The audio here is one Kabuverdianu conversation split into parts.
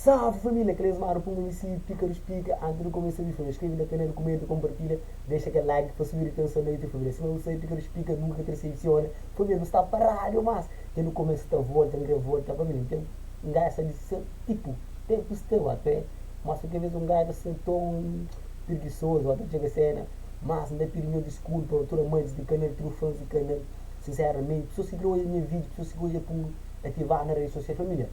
Salve família, kel esmadu puma mi sibi pika dos pika anti di kumesa di fla, skrebe na kanal, kumenta, konpartilha, dexa kel like pa subi ritenson na YouTube família, sima bu sabe pika dos pika nunka ka desepsiona família, nu sta pa radio mas dja nu kumesa ta volta n kre volta família, n ten n gaia sa di sa tipu tempu sta ba pe mas kualker bes un gaia ta sen ton pirgisozu ba ta txega sena mas n ta pidi nho diskulpa pa tur amantis di kanal trufans di kanal sinseramente pesoas ki kre odja nha video pesoas ki odja pun. ativadu na redi sosial familiar.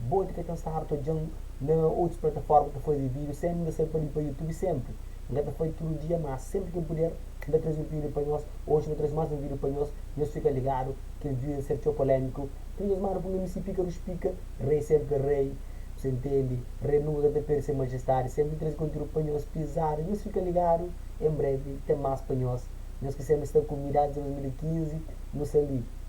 Boti ka ten stadu ta odja-m na otus plataforma ta faze vídiu sen N resebe pâniku pa YouTube senpri N ka ta fai tudu dia má senpri ki N puder N ta traze un vídiu pa nhos Oji N ta traze más un vídiu pa nhos Nhos fika ligadu kel vídiu ta ser txeu polémiku Kel nhos mara pun na mi si pika rus pika Rei senpri rei Bu sa ntende Rei nunka ka ta perde se majestadi Senpri N traze konteúdu pa nhos pizadu Nhos fika ligadu en brevi ten más pa nhos Nhos ki senpri sta ku mi désdi 2015 nu sa li.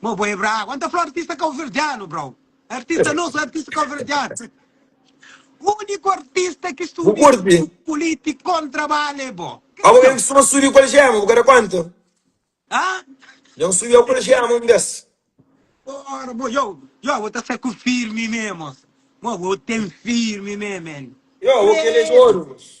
Mo bo é bragu. Anta fla artista kauverdianu brau. Artista nosu é artista kauverdianu. Uniku artista ki Bu studia kurti? ku puliti kon trabala é bo. Má bo ben Kriston. kusuma studia ku Algema, bu ka da kónta? Ha? Dja N studia ku Algema un bes. Ora bo yo yo bo ta sai ku firmi mé moça. Mo bo ten firmi mé man. Yo bo kel é di Krê. oru moça.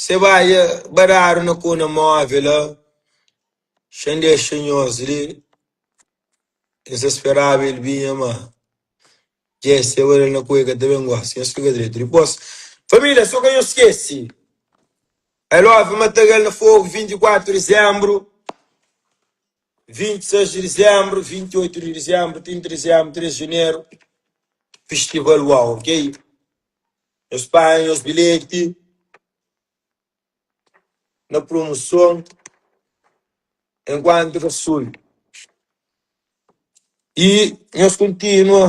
Se baia ba dadu na kona move la xa n dexa nhos li N sa speraba el binha ma dje seba la na kua el ka ta ben gosi Nhos fika dretu dipos familia so ka nhos skesi I love matagal na fogu 24 di dizembru 26 di dizembru 28 di dizembru 30 di dizembru 3 di janeru fistival uau ok. nhos panha nhos bilheti na promoson enkuantu ta sul y nhos kontinua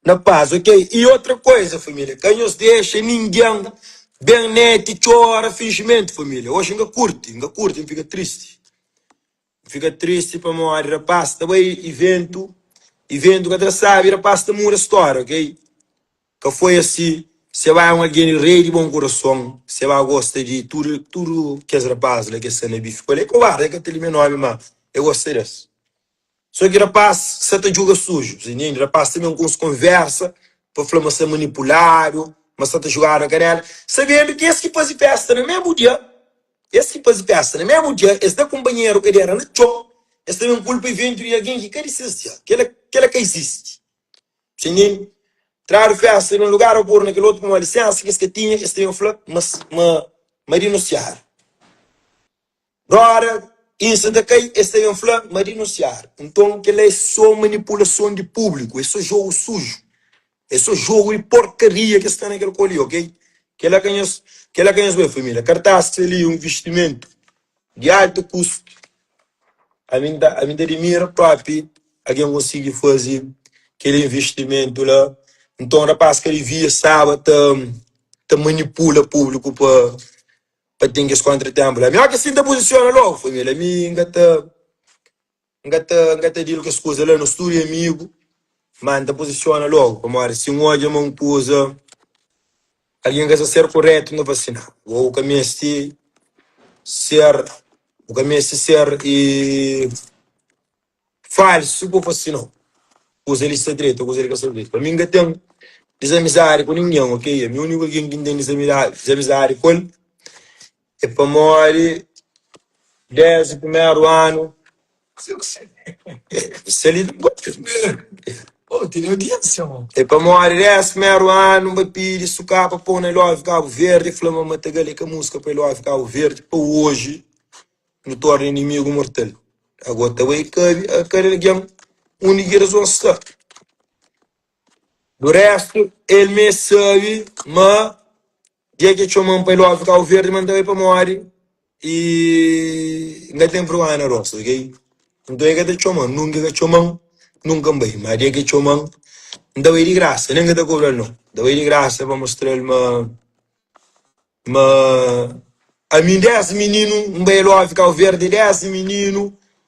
na pas ok y otra koiza família ka nhos dexa ninguin ben neti txora finjimentu família oxi n ka kurti n ka kurti n fika tristi. N fika tristi pamodi rapás ta bai i véntu, i véntu ka tra sábi. Rapás ta muda stória, ok? Ka foi asi. Sebá é un algen di rei, di bon kurason. Sebá gosta di tudu, tudu kes rapás la ki es sta na bife ku el. É kobárdi, el ka ta limia nómi, má el gosta di es. Sô ki rapás sa ta djuga suju, bu ta intende? Rapás ta ben ku uns konvérsa pa fla ma sa manipuládu, ma sa ta jugada ka régra. Sabendo kes ki faze fésta na mésmu dia Es ki faze fésta na mésmu dja, es da kunpanheru kadera na txon, es ta ben kulpa ivéntu di algen ki ka di ses dja. Kel-la, kel-la ka izisti. Bu intende? Tradu fésta di un lugar ô pô-l na kel otu pamodi lisénsa ki es ka tinha, es ta ben fla ma, ma, ma dinunsiadu. Roda insa ta kai, es ta ben fla ma dinunsiadu. Nton, kel-la é sô manipulason di públiku, é sô jogu suju. É só jogu di porkaria ki es sta na kel koli ok. Kela ka nhos kela ka nhos bem família. Kartas txeu li é un vistimentu di altu kustu. Ami n ta ami n ta dimira propi algen konsigi fazi kel invistimentu la. Nton rapas ka divia staba ta ta manipula publiku pa pa ten kes kontratenpu la. Ami ok si n ta pozisiona logu família ami n ka ta N ka ta N ka ta dil kes kuza la nos tude amigu ma N ta pozisiona logu pamodi si N odja ma un kuza algen ka sta ser koretu N ta fla si na bo bu ka meste ser bu ka meste ser e falsu pa fla si no kuza li sta dretu o kuza li ka sta dretu pa mi N ka ten dizamizadi ku ningen ok ami uniku algen ki N ten dizamizadi dizamizadi ku el. É pamodi desdi primeru anu N bai pidi Suká pa pô-u na El Óbviu Kabu Verdi, el fla ma Matagal é ka múzika pa El Óbviu Kabu Verdi. Pa oji nu torna inimigu mortal. Ago ta bai kabi kada algen undi ki razon sta. Di réstu, el mê sabi ma Dia ki e txoma-m pa e love Kabu Verdi, ma N ta bai pamodi e N ka ten vrgónha na rosta, ok? Nton e ka ta txoma-m, nunka e ka txoma-m, nunka N bai. Má dia ki e txoma-m, N ta bai di grasa, nen ka ta kobra-l nau. N ta bai di grasa pa mostra-l ma, ma ami désdi mininu N bai e love Kabu Verdi, désdi mininu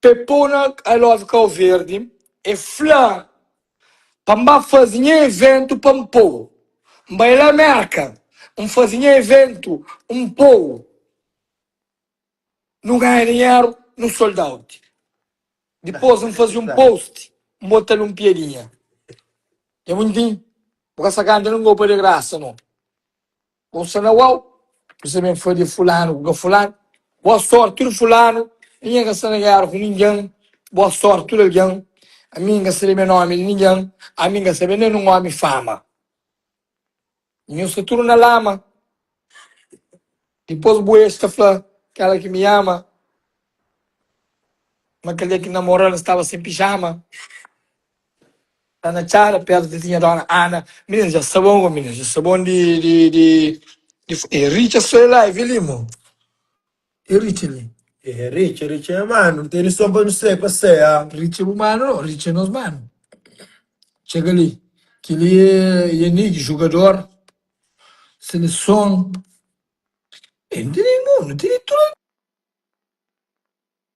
Pepona I love kau verdi e fla pa n ba faze nha eventu pa n pô-u n bai la merka n faze nha eventu n pô-u nu ganha dinheru nu sold out dipôs n faze un post n bota-l un piadinha nha buntin bu ka sa kanta nu gopa de grasa no. Bo sta na uau, bu sta ben fadja fulanu ku ka fulanu. Boa sorti tudu fulanu, ami nha ka sta na gera ku ningin. Boa sorti tudu algin, ami nha ka sta lebe nomi di ningin. Ami nha ka sta ben da nin omi fama, nhu sta tudu na lama. Dipos bu ex ta fla kela ki mi ama, ma kel dia ki namoral staba sen pijama. Sta na txada pértu di nha dóna Ana Minas dja sta bon, minas dja sta bon di di di di E Richard sta li la, e Vili mo e Richard li? E Richard, Richard nha manu, n tene son pa nu sai paseia Richard bu manu no, Richard é nos manu Txega li, kel-li é Yanigg, jugador seleson E nu tene mo, nu tene tudu.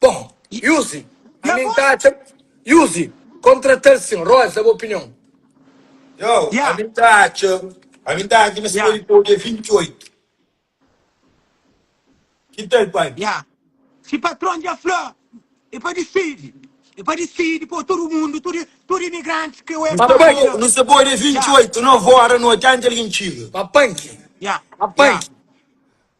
Bom Yuzi, ma mi nta atxa Yuzi kontratal sin Roz da bu opinion. Txau, ma mi nta atxa, ma mi nta atxa ma si podi pau dia 28. Ki tal pai? Ya, si patron dja fla e pa disidi, e pa disidi pau tudu mundu, tudu imigrantis ke ue pa bai la. Nu sa pau dia 28, 9 ora noti anti algin txiga. Ma panki, ma panki.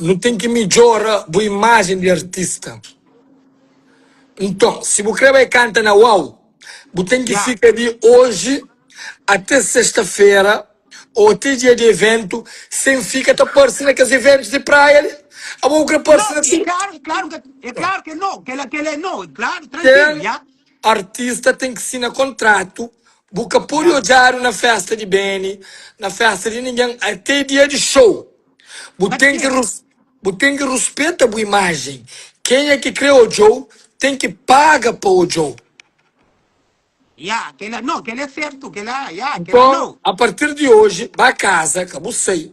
Nu ten ki midjora bu imajen di artista. Nton, si bu krê bai kanta na Uau! bu ten ki fika di oji até sesta-fera ô até dia di eventu sen fika ta parse na kes eventus di praia li. Abo bu krê parse na tudu. Ten. Artista ten ki sina kontratu bu ka podi odjadu na festa di beni na festa di ningen ate dia di show bu ten ki bu ten ki ruspeta bu imajen kenha ki kre odjou ten ki paga pa odjou. Nton a partir di oji ba kaza ka bu sai.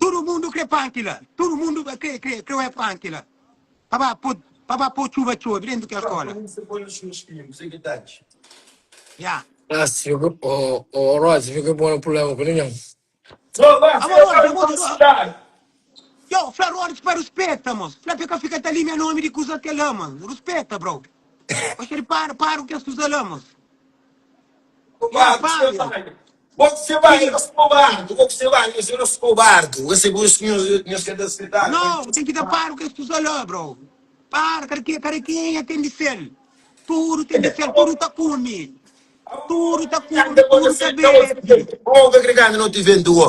Tudu mundu kre panki la. Tudu mundu ba kre, kre, kre oia panki la. Pa ba po, pa ba po txuba txobi dentu kel skola. Ya. Ras figu ke bo, o Rozi figu ke bo na pulema ku ninhun. Amo Rozi, amo ta do. Yo, fla Rozi pa ruspeta, mos. Fla pa e ka fika ta limia nomi di kusa kel la, mos. Ruspeta, bro. Oxeri, para, para ku kes kusa la, mos. Ya, para. Bo ku se bai eros kobardu. Bo ku se bai nhos eros kobardu. Bo se bus nhos ka da spetadu. No bu ten ki da paru kes kusa la bro paru kada ke kada kenha ten di sel tudu ten di sel tudu ta kumi tudu ta kumi tudu ta bebe. Bo ka kre kanda no ti vende wo.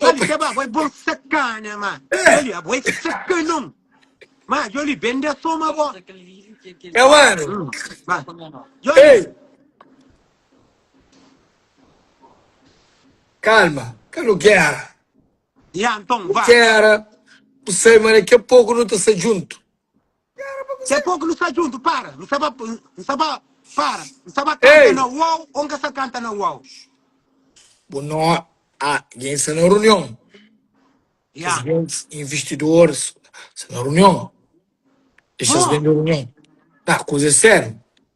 Má di k'é ba, abo é bon sakana, má djoli, abo é sakanon. Má djoli, ben da soma abo. É wanu. Hum, ba. Djoli, Ei! Kalma, ka nu gera. ya, anton, ba. Gera, bu sabe ma daki a poku nu ta sta djuntu. Se poku nu sta djuntu para nu sa ba nu sa ba para nu sa ba kanta Ei! na uou ou nka sa kanta na uou Bu no a gen sta na runion yeah presidentes investidores sta na runion dexas Huh! ben di runion ta kuza é sério.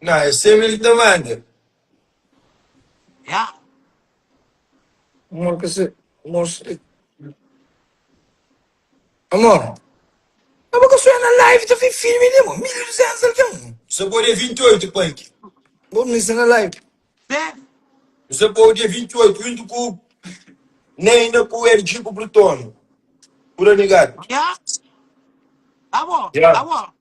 Nha, es seme li ta manda. Nha, amor ka se mostra. Amor, nha bo ka sonha na live ta fin filme li amor, 1200 algen. Nu sa pau dia 28 pa ki. Bo misa na live. Sé. Nu sa pau dia 28 juntu ku Neina ku RG ku Plutonio. Pura nigat. Nha, amor, Nha. amor.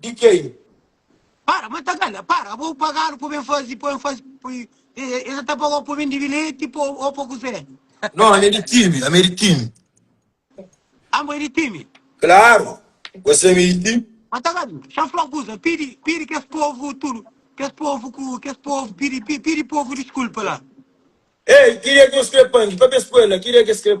di kei. Para ma ta kala para abo pa galu po ben fazi po en fazi e sa ta pagau po ben dibi leti po o po kuzé. No ami di timi ami di timi. Ambo e di timi. Klaru bo semi di timi. Ma ta kala sa fla kuza pidi pidi kes povu tudu kes povu ku kes povu pidi pidi povu diskulpa la. Ei kiria ki un skrepangi pa be skuela kiria ki es skrepangi.